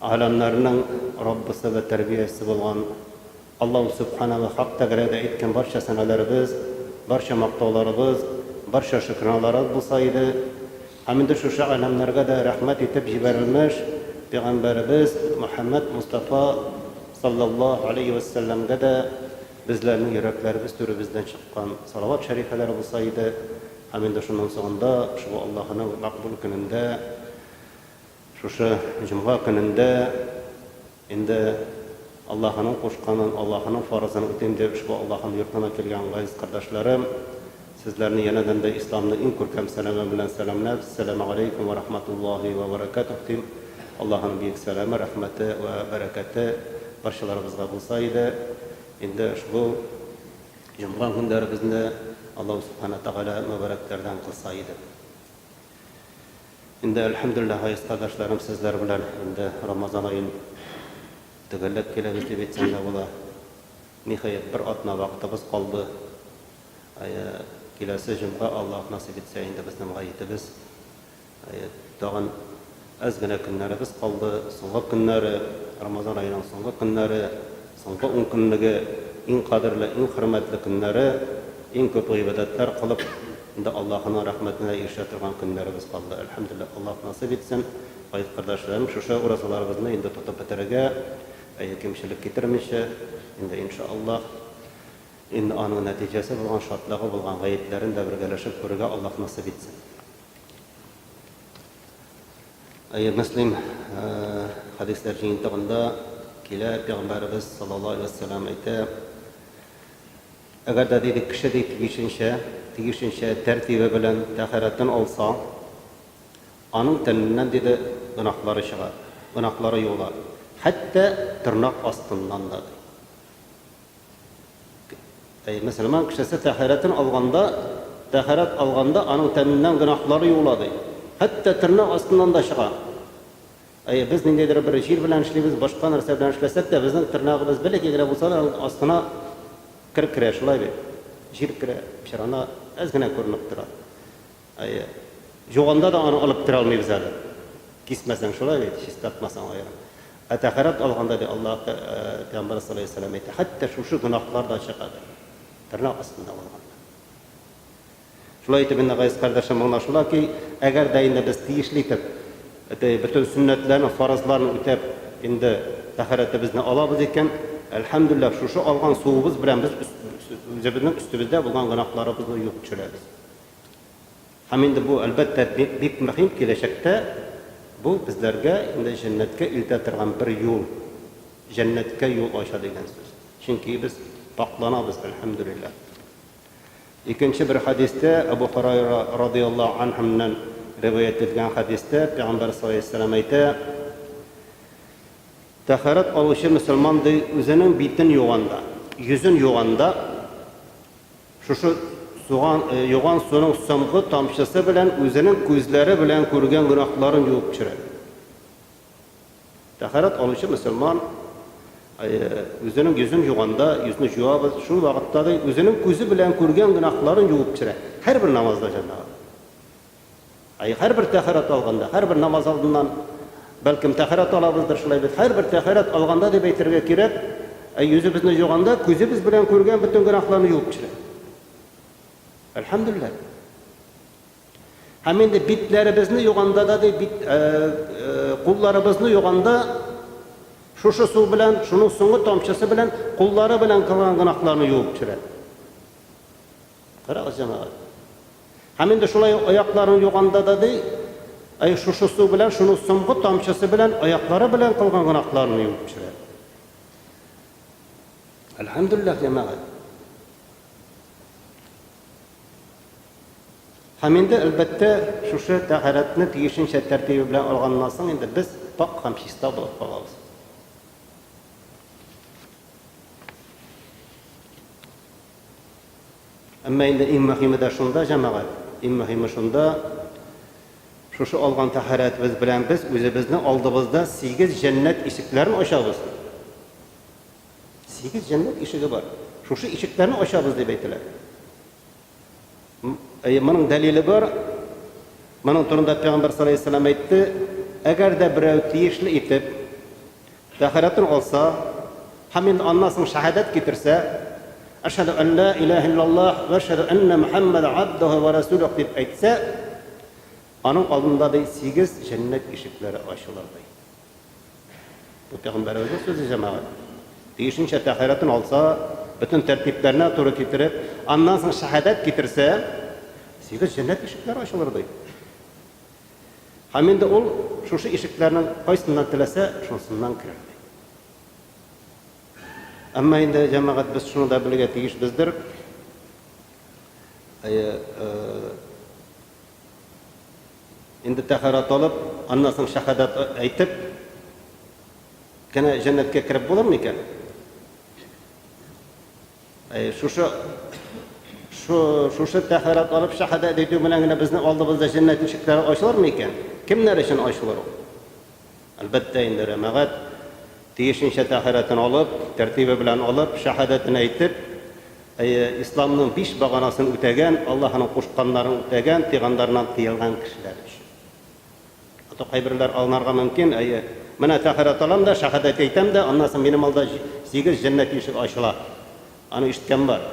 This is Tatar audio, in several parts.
Галәмнәрнең Раббысы вә Тәрбиячесе булган Аллаһу Сүбхәнә вә Хак Тәгаләгә әйткән барча сәнәләребез, барча мактауларыбыз, барча шөкранәләребез булса иде! Һәм инде шушы галәмнәргә дә рәхмәт итеп җибәрелмеш Пәйгамбәребез Мөхәммәд Мостафа салләллаһу галәйһи вә сәлләмгә дә безләрнең йөрәкләребез түребездән чыккан салават шәрифәләр булса иде! Һәм инде шуның соңында, шул Аллаһының мәкъбүл көнендә, Шушы җомга көнендә инде Аллаһының кушканын, Аллаһының фарызын үтим дип ошбу Аллаһының йортына килгән газиз кардәшләрем, сезләрне янәдән дә Исламның иң күркәм сәламе белән сәламләп, Ссәламәгаләйкүм вә рахматуллаһи вә бәрәкәтүһ дим. Аллаһының биек сәламе, рәхмәте вә бәрәкәте барчаларыбызга булса иде. Инде ошбу җомга көннәребезне Аллаһу Сүбхәнәһү Тәгалә мөбарәкләрдән кылса иде. Инде әлхәмдүлилләһ гайзкардашларым сезләр белән инде рамазан аен төгәлләп киләбез дип әйтсәң дә була. Ниһаять бер атна вакытыбыз калды. Әйе, киләсе җомга Аллаһ насыйп итсә инде без дымга итебез. Әйе, тагын әз генә көннәребез калды, соңгы көннәре, рамазан аеның соңгы көннәре. Соңгы ункөнлеге, иң кадерле, иң хөрмәтле көннәре, иң күп гыйбадәтләр кылып, инде Аллаһының рәхмәтенә ирешә торган көннәребез калды. Әлхәмдүлилләһ, Аллаһ насыйп итсен, гәзит кардәшләрем, шушы уразаларыбызны инде тотып бетерергә, әйе, кимчелек китермичә, инде инша Аллаһ, инде аның нәтиҗәсе булган, шатлыгы булган гәетләрен дә бергәләшеп күрергә Аллаһ насыйп итсен. Әйе, Мөслим хәдисләр җыентыгында килә, пәйгамбәребез саллаллаһу алейһи ва сәллам әйтә, әгәр дә диде кеше ди тиешенчә, тиешенчә тәртибе белән тәһарәтен алса, аның тәненнән диде гөнаһлары чыга, гөнаһлары юыла, хәтта тырнак астыннан да. Әй, мөселман кешесе тәһарәтен алганда, тәһарәт алганда аның тәненнән гөнаһлары юыла, ди. Хәтта тернәк астыннан да чыга. Әй, без ниндидер бер җир белән эшлибез, башка нәрсә белән эшләсәк тә, безнең тернәгебез бәләкәй генә булса да, аның астына кер керә, шулай бит? Җир керә, чырана әз генә күренеп тора. Әйе. Җуганда да аны алып керә алмыйбыз әле. Кисмәсәң шулай бит, чистартмасаң аерым. Ә тәһарәт алганда ди Аллаһ пәйгамбәре саллаллаһу галәйһи ва сәлләм әйтә, хәтта шушы гөнаһлар да чыга ди. Тырнак астында булганда. Шулай итеп инде, газиз кардәшләр, моңа шулай ки, әгәр дә инде без тиешле итеп бөтен сөннәтләрне, фарызларны үтәп, инде тәһарәтебезне алабыз икән, әлхәмдүлилләһ, шушы алган суыбыз белән без үзебезнең өстебездә булган гөнаһларыбызны юып төшерәбез. Һәм инде бу, әлбәттә, бик мөһим, киләчәктә бу безләргә инде җәннәткә илтә торган бер юл, җәннәткә юл ача дигән сүз. Чөнки без пакъланабыз, әлхәмдүлилләһ. Икенче бер хәдистә, Әбу Һорайра радиаллаһу анһүннән риваять ителгән хәдистә, пәйгамбәр саллаллаһу алейһи ва сәлләм әйтә, Тәһарәт алучы мөселман, ди, үзенең битен юганда, йөзен юганда, Шушы суган, юган суның соңгы тамчысы белән үзенең күзләре белән күргән гөнаһларын юып төшерә. Тәһарәт алучы мөселман үзенең йөзен юганда, йөзне җуабыз, шул вакытта да үзенең күзе белән күргән гөнаһларын юып төшерә. Һәрбер намазда, җәмәгать. Әй, һәрбер тәһарәт алганда, һәрбер намаз алдыннан, бәлкем, тәһарәт алабыздыр, шулай бит, һәрбер тәһарәт алганда дип әйтергә кирәк, әй, йөзебезне җуганда, күзебез белән күргән бөтен гөнаһларны юып төшерә. Әлхәмдүлилләһ. Һәм инде битләребезне юганда да, ди, бит, ә, ә, кулларыбызны юганда, шушы су белән, шуның соңгы тамчысы белән, куллары белән кылган гөнаһларны юып төшерә. Карагыз, җәмәгать. Һәм инде шулай ук аякларын юганда да, ди, әй, шушы су белән, шуның соңгы тамчысы белән, аяклары белән кылган гөнаһларын юып төшерә. Әлхәмдүлилләһ, җәмәгать. Һәм инде, әлбәттә, шушы тәһарәтне тиешенчә тәртибе белән алганнан соң инде без пак һәм чиста булып калабыз. Әмма инде иң мөһиме дә шунда, җәмәгать, иң мөһиме шунда, шушы алган тәһарәтебез белән без үзебезнең алдыбызда сигез җәннәт ишекләрен ачабыз. Сигез җәннәт ишеге бар. Шушы ишекләрне ачабыз дип әйтелә. Әйе, моның дәлиле бар. Моның турында пәйгамбәр саллаллаһу әйтте, әгәр дә берәү тиешле итеп Тәһарәтен алса һәм инде аннан соң шәһадәт китерсә, Әшһадү ан ләә иләәһә илләллаһ вә әшһадү әннә Мөхәммәдән абдүһү вә рәсүлүһ дип әйтсә, аның алдында, ди, сигез җәннәт ишекләре ачылыр, ди. Бу Пәйгамбәребезнең сүзе, җәмәгать. Тиешенчә тәһарәтен алса, бөтен тәртипләренә туры китереп, аннан соң шәһадәт китерсә, сигез җәннәт ишекләре ачылыр, ди. Һәм инде ул шушы ишекләрнең кайсыннан теләсә, шунсыннан керердек. Әмма инде, җәмәгать, без шуны да белергә тиешбездер, әйе, инде тәһарәт алып, аннан соң шәһадәт әйтеп кенә җәннәткә кереп булырмы икән? Шушы шушы тәһарәт алып шәһадәт әйтү белән генә безнең алдыбызда җәннәт ишекләре ачылырмы икән? Кемнәр өчен ачылыр ул? Әлбәттә инде, рәмәгать тиешенчә тәһарәтен алып, тәртибе белән алып, шәһадәтен әйтеп, әйе, исламның биш баганасын үтәгән, Аллаһының кушканнарын үтәгән, тыйганнарыннан тыелган кешеләр өчен. Хәтта кайберләр алынарга мөмкин, әйе. Менә тәһарәт алам да, шәһадәт әйтәм дә, аннан соң минем алда сигез җәннәт ишеге ачыла. Аны ишеткән бар.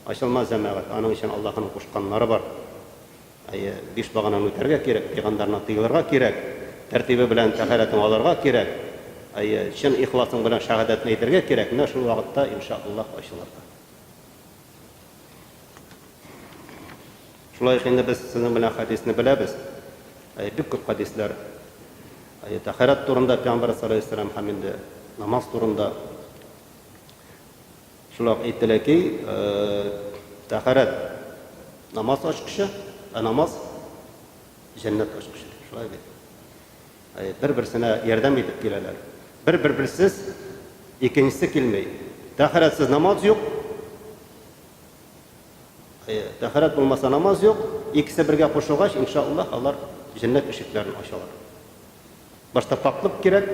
Ачылмас, җәмәгать, аның өчен Аллаһының кушканнары бар. Әйе, биш багананы үтәргә кирәк, пәйгамбәренә тыелырга кирәк, тәртибе белән тәһарәтең алырга кирәк. Әйе, чын ихласың белән шәһадәтне әйтергә кирәк, менә шул вакытта, иншаАллаһ, ачылыр да. Шулай ук инде без сезнең белән хәдисне беләбез. Әй, бик күп хәдисләр. Әй, тәхәрәт турында Пәйгамбәр салләһу һәм инде намаз турында. Шулай ук әйтелә ки, тәхәрәт намаз ачкычы, ә намаз җәннәт ачкычы. Шулай бит. Бер-берсенә ярдәм итеп киләләр. Бер-берберсез икенчесе килми. Тәһарәтсез намаз юк. Тәһарәт булмаса намаз юк. Икесе бергә кушылгач, иншааллаһ, алар җәннәт ишекләрен ачалар. Башта пакълык кирәк,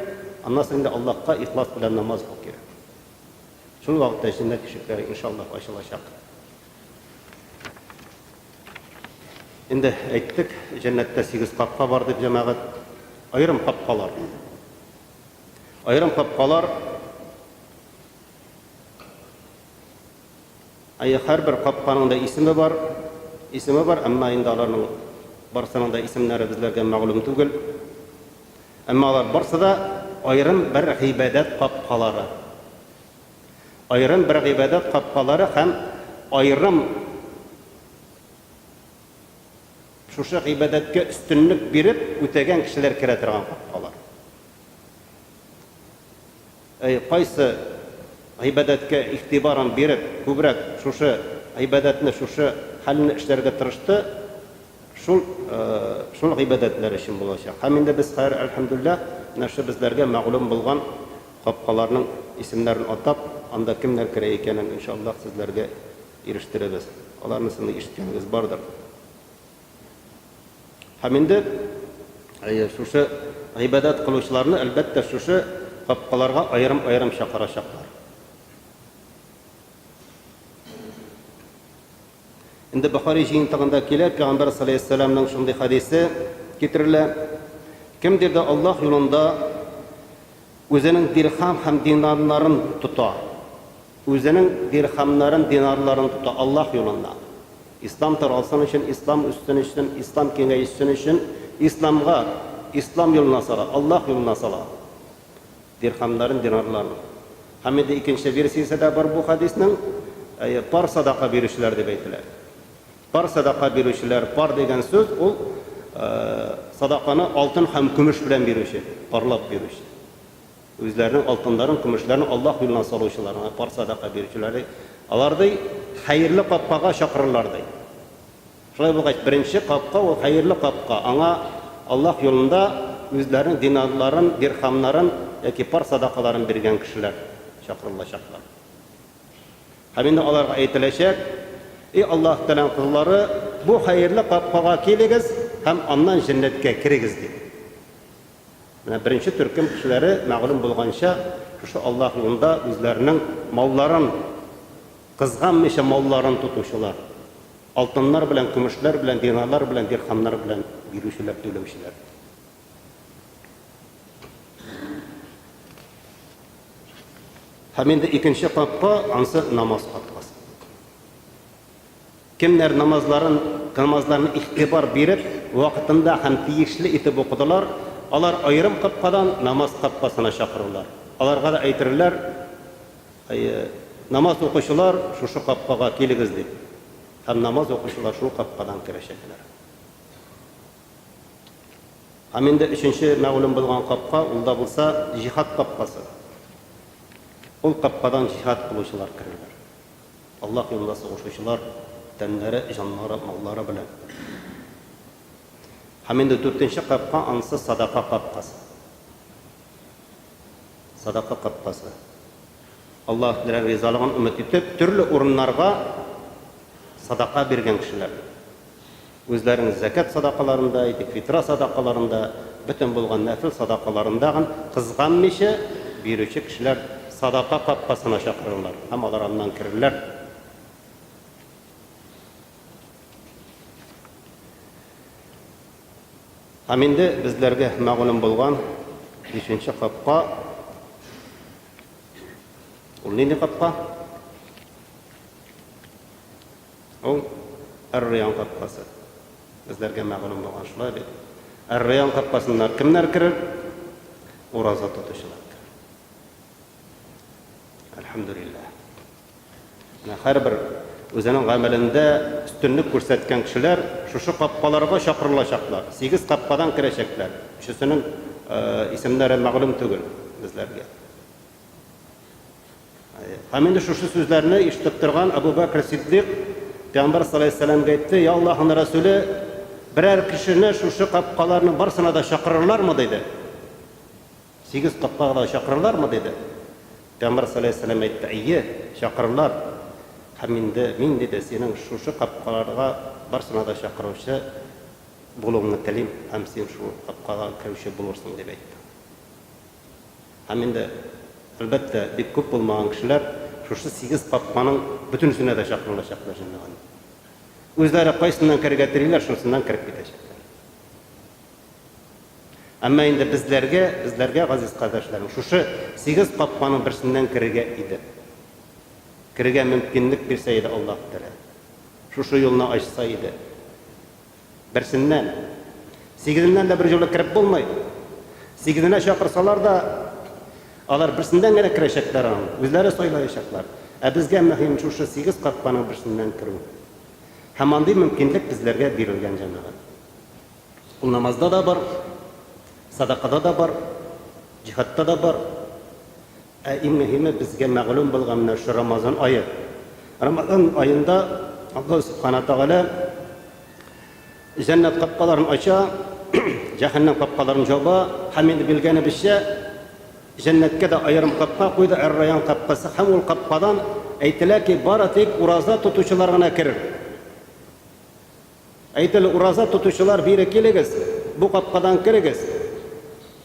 аннан соң инде Аллаһка ихлас белән намаз уку кирәк. Шул вакытта җәннәт ишекләре иншааллаһ ачылачак. Инде әйттек, җәннәттә сигез капка бар дип, җәмәгать. Аерым капкалар. Аерым капкалар. Әйе, һәрбер капканың да исеме бар. Исеме бар, әмма инде аларның барсының да исемнәре безләргә мәгълүм түгел. Әмма алар барсы да аерым бер гыйбадәт капкалары. Аерым бер гыйбадәт капкалары һәм аерым шушы гыйбадәткә өстенлек биреп үтәгән кешеләр керә торган капкалар. Әй, кайсы гыйбадәткә игътибарын биреп, күбрәк шушы гыйбадәтне, шушы хәлне эшләргә тырышты, Шул, шул гыйбадәтләр өчен булачак. Һәм инде без хәер, әлхәмдүлләһ, менә шул безләргә мәгълүм булган капкаларның исемнәрен атап, анда кемнәр керә икәнен, ин ша Аллаһ, сезләргә ирештерербез. Аларнысын да ишеткәнегез бардыр. Һәм инде, әйе, шушы гыйбадәт кылучыларны, әлбәттә, шушы капкаларга аерым-аерым чакырачаклар. Инде Бохари җыентыгында килә, пәйгамбәр салейһиссәламнең шундый хәдисе китерелә, Кемдер дә Аллаһ юлында үзенең дирхам һәм динарларын тота, үзенең дирхамнарын, динарларын тота Аллаһ юлында, Ислам таралсын өчен, Ислам үссен өчен, Ислам киңәешсен өчен, Исламга, Ислам юлына сала, Аллаһ юлына сала, Дирхәмнәрен динарлармы? Һәм инде икенче версиясе дә бар бу хәдиснең, әйе, пар садака бирүчеләр дип әйтелә. Пар садака бирүчеләр, пар дигән сүз ул садаканы алтын һәм көмеш белән бирүче, парлап бирүче. Үзләренең алтыннарын, көмешләрен Аллаһ юлына салучылар, пар садака бирүчеләр ди. Алар ди, хәерле капкага чакырырлар ди. Шулай булгач, беренче капка ул хәерле капка, аңа Аллаһ юлында үзләренең динарларын, дирхамнарын яки пар садакаларын биргән кешеләр чакырылачаклар. Һәм инде аларга әйтеләчәк, Эй Аллаһ Тәгаләнең козлары, бу хәерле капкага килегез һәм аннан җәннәткә керегез, дип. Менә беренче төркем кешеләре, мәгълүм булганча, шушы Аллаһ юлында үзләренең малларын, Кызганмыйча малларын тотучылар, алтыннар белән, көмешләр белән, динарлар белән, дирхамнар белән бирүчеләр, түләүчеләр. Һәм инде икенче капка, ансы намаз капкасы. Кемнәр намазларын намазларны игътибар биреп, вакытында һәм тиешле итеп укыдылар, алар аерым капкадан намаз капкасына чакырырлар. Аларга да әйтерләр, Әйе, намаз укучылар, шушы капкага килегез, дип. Һәм намаз укучылар шул капкадан керәчәкләр. Һәм инде өченче мәгълүм булган капка, ул да булса, җиһад капкасы. Ул капкадан җиһад кылучылар керерләр. Аллаһ юлында сугышучылар тәннәре, җаннары, маллары белән. Һәм инде дүртенче капка анысы садака капкасы. Садака капкасы. Аллаһ белән ризалыгын өмет итеп, төрле урыннарга садака биргән кешеләр. Үзләренең зәкят садакаларында, әйтик, фитра садакаларында, бөтен булган нәфел садакаларында гын кызганмыйча бирүче кешеләр садака капкасына чакырырлар һәм алар аннан керерләр. Һәм инде безләргә мәгълүм булган бишенче капка, ул нинди капка? Ул Эр-Район капкасы. Безләргә мәгълүм булган шулай бит. Эр-Район капкасыннан кемнәр керер? Ураза тотучылар керер. Әлхәмдүлилләһ. Менә һәрбер үзенең гамәлендә өстенлек күрсәткән кешеләр шушы капкаларга чакырылачаклар. Сигез капкадан керәчәкләр. Өчесенең исемнәре мәгълүм түгел безләргә. Һәм инде шушы сүзләрне ишетеп торган Абу Бәкер Сиддыйк пәйгамбәр саллаллаһу алейһи вәсәләмгә әйтте, Я Аллаһының Рәсүле, берәр кешене шушы капкаларның барсына да чакырырлармы? диде. Сигез капкага да чакырырлармы? диде. Пәйгамбәр саллаллаһу алейһи вәсәләм әйтте, Әйе, чакырырлар. Һәм инде мин, диде, синең шушы капкаларга барсына да чакыручы булуыңны телим, һәм син шул капкага керүче булырсың, дип әйтте. Һәм инде, әлбәттә, бик күп булмаган кешеләр шушы сигез капканың бөтенесенә дә чакырылачаклар җәмәгать. Үзләре кайсыннан керергә телиләр, шунысыннан кереп китәчәкләр. Әмма инде безләргә, безләргә, газиз кардәшләрем, шушы сигез капканың берсеннән керергә иде. Керергә мөмкинлек бирсә иде Аллаһ Тәгалә. Шушы юлны ачса иде. Берсеннән, сигезеннән дә берьюлы кереп булмый. Сигезенә чакырсалар да, алар берсеннән генә керәчәкләр аны, үзләре сайлаячаклар. Ә безгә мөһим шушы сигез капканың берсеннән керү. Һәм андый мөмкинлек безләргә бирелгән, җәмәгать. Ул намазда да бар, садакада да бар, җиһадта да бар. Ә иң мөһиме, безгә мәгълүм булган менә шул Рамазан ае. Рамазан аенда Аллаһ Сүбхәнәһү Тәгалә җәннәт капкаларын ача, җәһәннәм капкаларын җаба. Һәм инде билгеләнебезчә, җәннәткә дә аерым капка куйды, әр-райян капкасы. Һәм ул капкадан, әйтелә ки, бары тик ураза тотучылар гына керер. Әйтеле ураза тотучылар бире килегез, бу капкадан керегез.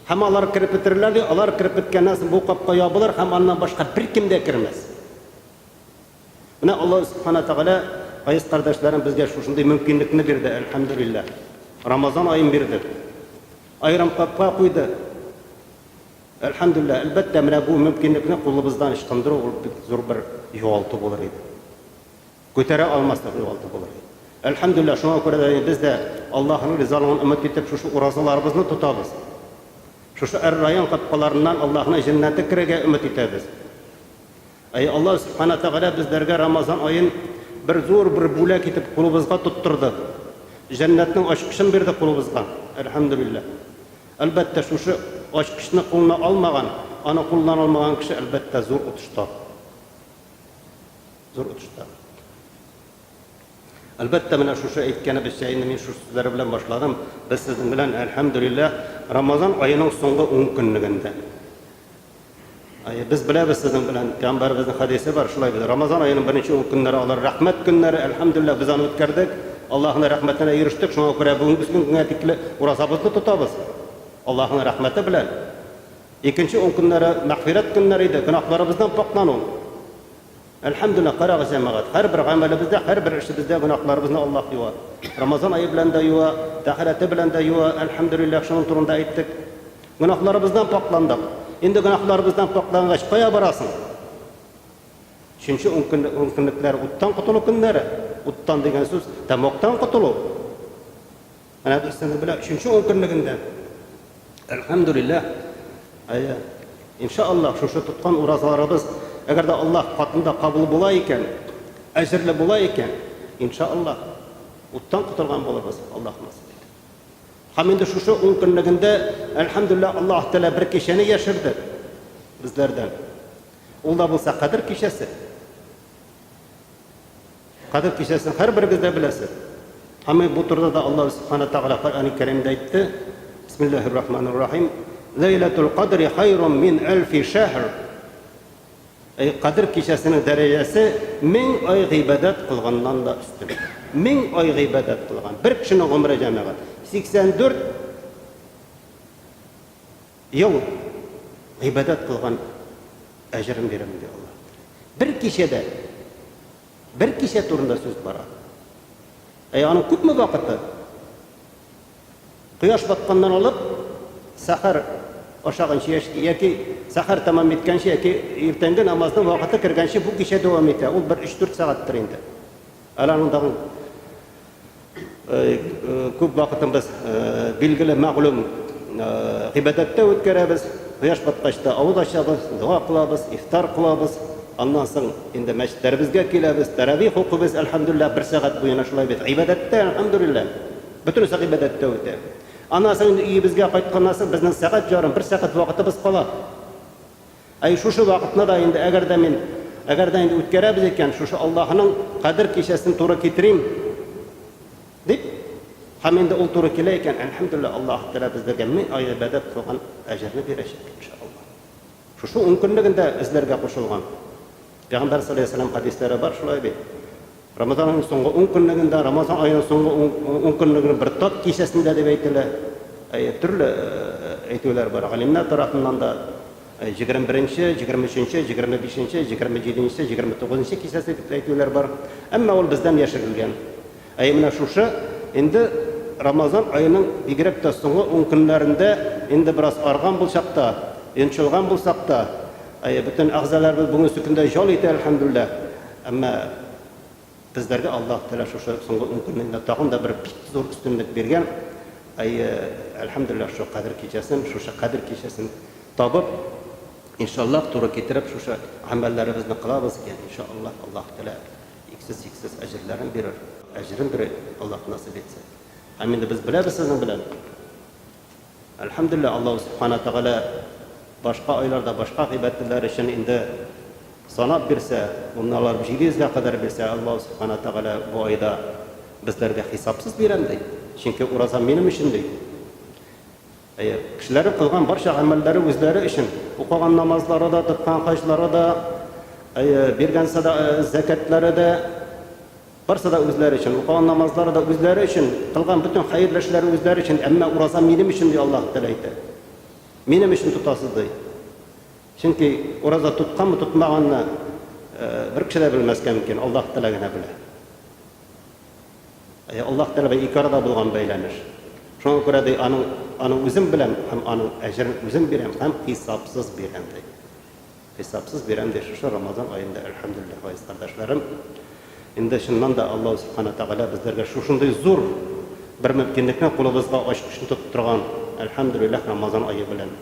Һәм алар кереп бетерерләр, ди, алар кереп беткәннән соң бу капка ябылыр һәм аннан башка беркем дә кермәс. Менә Аллаһ Сүбхәнә Тәгалә, газиз кардәшләрем, безгә шушындый мөмкинлекне бирде, әлхәмдүлилләһ. Рамазан аен бирде. Аерым капка куйды. Әлхәмдүлилләһ, әлбәттә, менә бу мөмкинлекне кулыбыздан ычкындыру ул бик зур бер югалту булыр иде. Күтәрә алмаслык югалту булыр. Әлхәмдүлилләһ, шуңа күрә дә без дә Аллаһының ризалыгын өмет итеп шушы уразаларыбызны тотабыз. Шушы әр-район капкаларыннан Аллаһының җәннәте керергә өмет итәбез. Әй Аллаһ Сүбхана Тәгалә безләргә Рамазан аен бер зур бер бүләк итеп кулыбызга тоттырды. Җәннәтнең ачкычын бирде кулыбызга. Әлхәмдүлилләһ. Әлбәттә, шушы ачкычны кулына алмаган, аны куллана алмаган кеше, әлбәттә, зур отышта. Зур отышта. Әлбәттә, менә шушы әйткәнебезчә, инде мин шушы сүзләр белән башладым, без сезнең белән, әлхәмдүлилләһ, Рамазан аеның соңгы ункөнлегендә. Әйе, без беләбез сезнең белән, пәйгамбәребезнең хәдисе бар, шулай бит. Рамазан аеның беренче ункөннәре алар рәхмәт көннәре, әлхәмдүлилләһ, без аны үткәрдек, Аллаһның рәхмәтенә ирештек, шуңа күрә бүгенге көнгә тикле уразабызны тотабыз. Аллаһның рәхмәте белән. Икенче ункөннәре мәгъфирәт көннәре иде, гөнаһларыбыздан пакьлану. Әлхәмдүлиллаһ, карагыз, җәмәгать, һәрбер гамәлебездә, һәрбер эшебездә гөнаһларыбызны Аллаһ юа. Рамазан ае белән дә юа, тәһарәте белән дә юа, әлхәмдүлиллаһ, шуның турында әйттек. Гөнаһларыбыздан пакьландык. Инде гөнаһларыбыздан пакьлангач, кая барасың? Өченче ун көнлек ун көнлекләр уттан котылу көннәре. Уттан дигән сүз, тәмугтан котылу. Менә берсенең белән өченче ун көнлегендә, әлхәмдүлилләһ, әйе, иншаллаһ, шушы тоткан уразаларыбыз, әгәр дә Аллаһ катында кабул була икән, әҗерле була икән, иншаллаһ, уттан котылган булабыз, Аллаһ насыйп итеп. Һәм инде шушы ун көнлегендә, әлхәмдүлилләһ, Аллаһ Тәгалә бер кичәне яшерде безләрдән. Ул да булса Кадер кичәсе. Кадер кичәсен һәрберегез дә беләсез. Һәм бу турыда да Аллаһ Субхана Тәгалә Коръәни Кәримдә әйтте, Бисмиллаһир Рахманир Рахим, Ләйләтул Кадри хайрун мин әлфи шәһр. Әй, Кадер кичәсенең дәрәҗәсе мең ай гыйбадәт кылганнан да өстен. Мең ай гыйбадәт кылган. Бер кешенең гомере, җәмәгать, 84 Ел гыйбадәт кылган әҗерен бирәм, ди Алла. Бер кичәдә, бер кичә турында сүз бара. Ә аның күпме вакыты? Кояш батканнан алып, сәхәр ашаганчы яшь- яки сәхәр тәмам иткәнче, яки иртәнге намазның вакыты кергәнче бу кичә дәвам итә. Ул бер өч-дүрт сәгатьтер инде. Әле аның тагын Күп вакытын без, билгеле, мәгълүм, гыйбадәттә үткәрәбез. Кояш баткач та авыз ачабыз, дога кылабыз, ифтар кылабыз. Аннан соң инде мәчетләребезгә киләбез, тәравих укыйбыз, әлхәмдүлилләһ, бер сәгать буена шулай без гыйбадәттә, әлхәмдүлилләһ. Бөтенесе гыйбадәттә үтә. Аннан соң инде өебезгә кайтканнан соң безнең сәгать ярым, бер сәгать вакытыбыз кала. Әй, шушы вакытны да инде, әгәр дә мин, әгәр дә инде үткәрәбез икән, шушы Аллаһының Кадер кичәсен туры китерим, дип, һәм инде ул туры килә икән, әлхәмдүлилләһ, Аллаһ Тәгалә безләргә мең ай гыйбадәт кылган әҗерне бирәчәк, ин ша Аллаһ. Шушы ункөнлеген дә эзләргә кушылган. Пәйгамбәр салләллаһу галәйһи ва сәлләм хәдисләре бар шулай бит. Рамазанның соңгы ун көнлегендә, Рамазан аеның соңгы ун көнлегенең бер тап кичәсендә дип әйтелә. Әйе, төрле әйтүләр бар. Галимнәр тарафыннан да 21-нче, 23-нче, 25-нче, 27-нче, 29-нчы кичәсе дип әйтүләр бар. Әмма ул бездән яшерелгән. Әйе, менә шушы инде Рамазан аеның бигрәк тә соңгы ун көннәрендә инде бераз арган булсак та, йончылган булсак та, әйе, бөтен әгъзаларыбыз бүгенге көндә җал итә, әлхәмдүлилләһ. Әмма безләргә Аллаһ Тәгалә шушы соңгы ун көннән дә тагын да бер бик зур өстенлек биргән. Әйе, әлхәмдүлилләһ, шул Кадер кичәсен, шушы Кадер кичәсен табып, иншаллаһ, туры китереп, шушы гамәлләребезне кылабыз икән, иншаллаһ, Аллаһ Тәгалә иксез-чиксез әҗерләрен бирер, әҗерен бирер, Аллаһ насыйп итсә. Һәм инде без беләбез сезнең белән. Әлхәмдүлилләһ, Аллаһу Сүбхәнәһү Тәгалә башка айларда башка гыйбадәтләр өчен инде санап бирсә, гомумән алар 700 гә кадәр бирсә, Аллаһу Сүбхәнәһү Тәгалә бу айда безләргә хисапсыз бирәм ди, чөнки ураза минем өчен ди. Әйе, кешеләрнең кылган барча гамәлләре үзләре өчен, укыган намазлары да, тоткан хаҗлары да, әйе, биргән сәда, зәкятләре дә, Барсы да үзләре өчен, укыган намазлары да үзләре өчен, кылган бөтен хәерле эшләре үзләре өчен, әмма ураза минем өчен, ди Аллаһ Тәгалә әйтә. Минем өчен тотасыз, ди. Чөнки ураза тотканмы, тотмаганны бер кеше дә белмәскә мөмкин, Аллаһ Тәгалә генә белә. Ә Аллаһ Тәгалә бу ике арада булган бәйләнеш. Шуңа күрә ди, аның аның үзем беләм һәм аның әҗерен үзем бирәм һәм хисапсыз бирәм, ди. Хисапсыз бирәм ди шушы Рамазан аенда Әлхәмдүлилләһ газиз кардәшләрем. Инде чыннан да Аллаһу Субхана Тәгалә безләргә шушындый зур бер мөмкинлекне кулыбызга ачкычны тотып торган Әлхәмдүлилләһ Рамазан ае белән.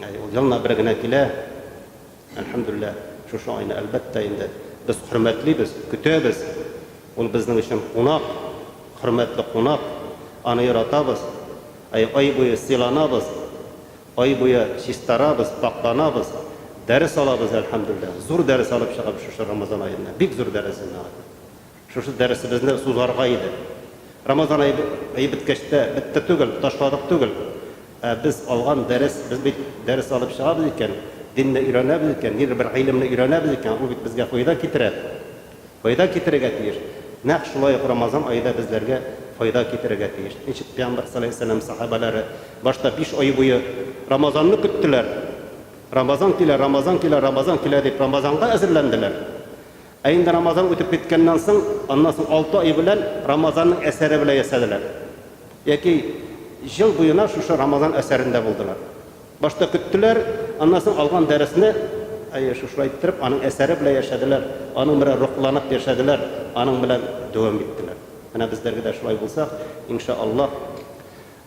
Әй ул елына бер генә килә. Әлхәмдүлилләһ шушы айны әлбәттә инде без хөрмәтлибез, көтәбез. Ул безнең өчен кунак, хөрмәтле кунак. Аны яратабыз. Әй ай буе сыйланабыз. Ай буе чистарабыз, пакьланабыз, дәрес алабыз, әлхәмдүлләһ. Зур дәрес алып чыгабыз шушы Рамазан аенда. Бик зур дәрес инде. Шушы дәресебезне сузарга иде. Рамазан ае ае беткәч тә бетте түгел, ташладык түгел. Ә без алган дәрес, без бит дәрес алып чыгабыз икән, динне өйрәнәбез икән, нидер бер гыйлемне өйрәнәбез икән, ул бит безгә файда китерә. Файда китерергә тиеш. Нәкъ шулай ук Рамазан ае да безләргә файда китерергә тиеш. Ничек Пәйгамбәр салләллаһу галәйһи ва сәлләм сәхабәләре башта биш ай буе Рамазанны көттеләр. Рамазан килә, Рамазан килә, Рамазан килә дип Рамазанга әзерләнделәр. Ә инде Рамазан үтеп киткәннән соң, аннан соң алты ай белән Рамазанның әсәре белән яшәделәр. Яки ел буена шушы Рамазан әсәрендә булдылар. Башта көттеләр, аннан соң алган дәресне, әйе, шушылай иттереп, аның әсәре белән яшәделәр, аның белән рухланып яшәделәр, аның белән дәвам иттеләр. Менә безләргә дә шулай булсак, ин шаә Аллаһ,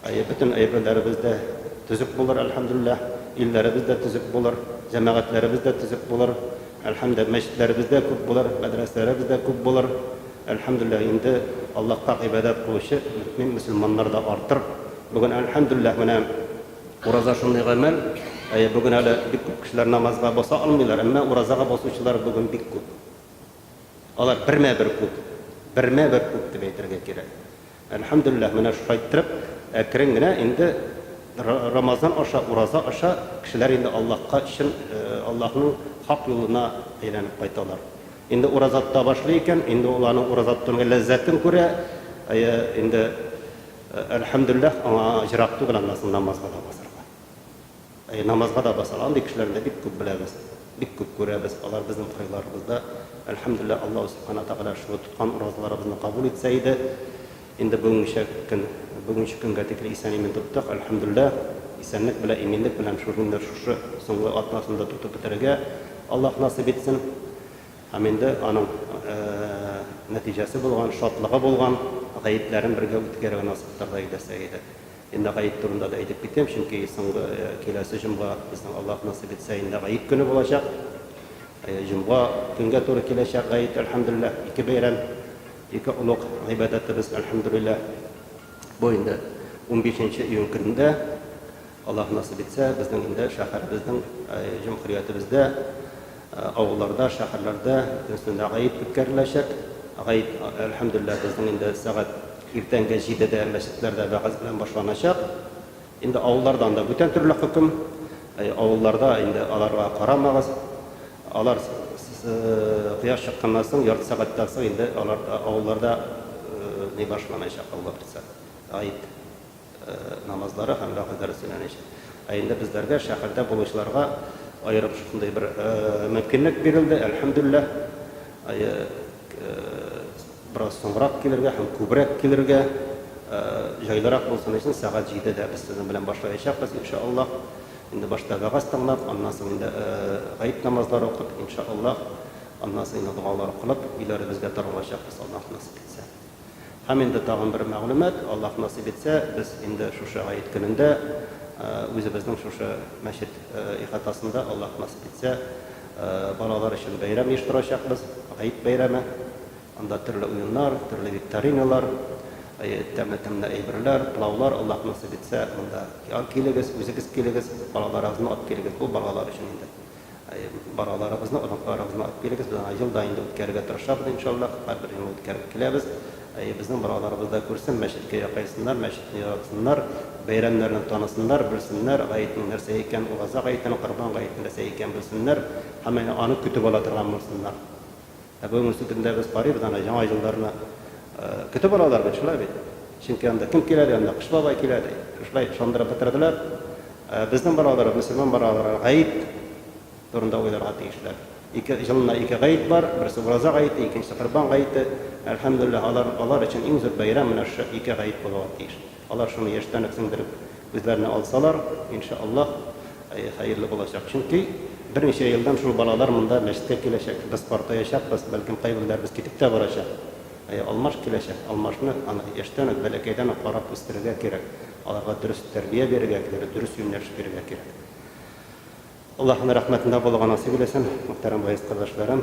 әйе, бөтен әйберләребез дә төзек булыр, әлхәмдүлилләһ, илләребез дә төзек булыр, җәмәгатьләребез дә төзек булыр, әлхәмдүлилләһ, мәчетләребез дә күп булыр, мәдрәсәләребез дә күп булыр, әлхәмдүлилләһ, инде Аллаһка гыйбадәт кылучы мөэмин мөселманнар да артыр. Бүген, әлхәмдүлилләһ, менә. Ураза шундый гамәл, әйе, бүген әле бик күп кешеләр намазга баса алмыйлар, әмма уразага басучылар бүген бик күп. Алар бермә-бер күп, бермә-бер күп дип әйтергә кирәк. Әлхәмдүлилләһ, менә шулай иттереп, әкрен генә инде Рамазан аша, ураза аша кешеләр инде Аллаһка чын, Аллаһның хак юлына әйләнеп кайталар. Инде ураза тота башлый икән, инде ул аның ураза тотуның ләззәтен күрә, әйе, инде. Әлхәмдүлләһ, аңа аҗрак түгел аннасы намазга да басарга. Әйе, намазга да басар. Андый кешеләрне дә бик күп беләбез, бик күп күрәбез. Алар безнең кырыйларыбызда. Әлхәмдүлләһ, Аллаһу Субхана Тәгалә шул тоткан уразаларыбызны кабул итсә иде. Инде бүгенгечә көн, бүгенче көнгә тикле исән-имин тоттык, әлхәмдүлләһ. Исәнлек белән, иминлек белән шул көнне, шушы соңгы атнасында тотып бетерергә Аллаһ насыйп итсен. Һәм инде аның нәтиҗәсе булган, шатлыгы булган, гәетләрен бергә үткәрүен асыктырды Иләсәй иде. Инде гает турында да әйтеп китим, чөнки соңгы, киләсе җомга безнең, Аллаһ насыйп итсә, инде гает көне булачак. Җомга көнгә туры киләчәк гает, әлхәмдүлилләһ, ике бәйрәм, ике олуг гыйбадәтебез, әлхәмдүлилләһ. Бу инде унбишенче июнь көнендә, Аллаһ насыйп итсә, безнең инде шәһәребезнең, җөмһүриятебездә Авылларда, шәһәрләрдә өстендә гает үткәреләчәк. Гает, әлхәмдүлилләһ, безнең инде сәгать иртәнге җидедә мәчетләрдә вәгазь белән башланачак. Инде авылларда анда бүтән төрле хөкем. Авылларда инде аларга карамагыз. Алар кояш чыкканнан соң, ярты сәгатьтән соң инде алар авылларда ни башланачак, Алла бирса, гает. намазлары һәм вәгъз дәресеннән ич. Ә инде безләргә, шәһәрдә булучыларга аерым шундый бер мөмкинлек бирелде, әлхәмдүлилләһ. Бераз соңрак килергә һәм күбрәк килергә, җайлырак булсын өчен, сәгать җидедә без сезнең белән башлаячакбыз, инша Аллаһ. Инде башта вәгазь тыңлап, аннан соң инде гаеп намазлары укып, инша Аллаһ, аннан соң инде догалар укылып, өйләребезгә таралачакбыз, Аллаһ насыйп итсә. Һәм инде тагын бер мәгълүмат, Аллаһ насыйп итсә, без инде шушы гает көнендә үзебезнең шушы мәчет ихатасында, Аллаһ насыйп итсә, балалар өчен бәйрәм оештырачакбыз, гает бәйрәме. Анда төрле уеннар, төрле викториналар, тәмле-тәмле әйберләр, пылаулар, Аллаһ насыйп итсә, монда килегез, үзегез килегез, балаларыгызны алып килегез, бу балалар өчен инде. Балаларыбызны, оныкларыбызны алып килегез, без аңа елда инде үткәрергә тырышабыз, иншаллаһ, һәрбер елны үткәреп киләбез. Безнең балаларыбыз да күрсен, мәчеткә якайсыннар, мәчетне яратсыннар, бәйрәмнәрне танысыннар, белсеннәр, гаетнең нәрсә икәнен, ураза гаетен, корбан гаетен нәрсә икәнен белсеннәр һәм аны көтеп ала торган булсыннар. Ә бүгенге сөтемдә без карыйбыз, ана яңа елларны көтеп алалар бит, шулай бит. Чөнки анда кем килә ди, анда Кыш бабай килә ди. Шулай ышандырып бетерделәр. Ә безнең балалар, мөселман балалар гаит турында уйларга тиешләр. Ике елына ике гаит бар, берсе Ураза гаете, икенчесе Корбан гаете. Әлхәмдүлилләһ, алар, алар өчен иң зур бәйрәм менә шушы ике гаит булырга тиеш. Алар шуны яшьтән үк сеңдереп үзләренә алсалар, ин ша Аллаһ, хәерле булачак. Чөнки берничә елдан шул балалар монда мәчеткә киләчәк. Без картаячакбыз, бәлкем кайберләребез китеп тә барачак. Алмаш киләчәк. Алмашны аны яшьтән үк, бәләкәйдән үк карап үстерергә кирәк. Аларга дөрес тәрбия бирергә кирәк, дөрес юнәлеш бирергә кирәк. Аллаһ аны рәхмәтендә булырга насыйп иләсен, мөхтәрәм вәгыйзь кардәшләрем.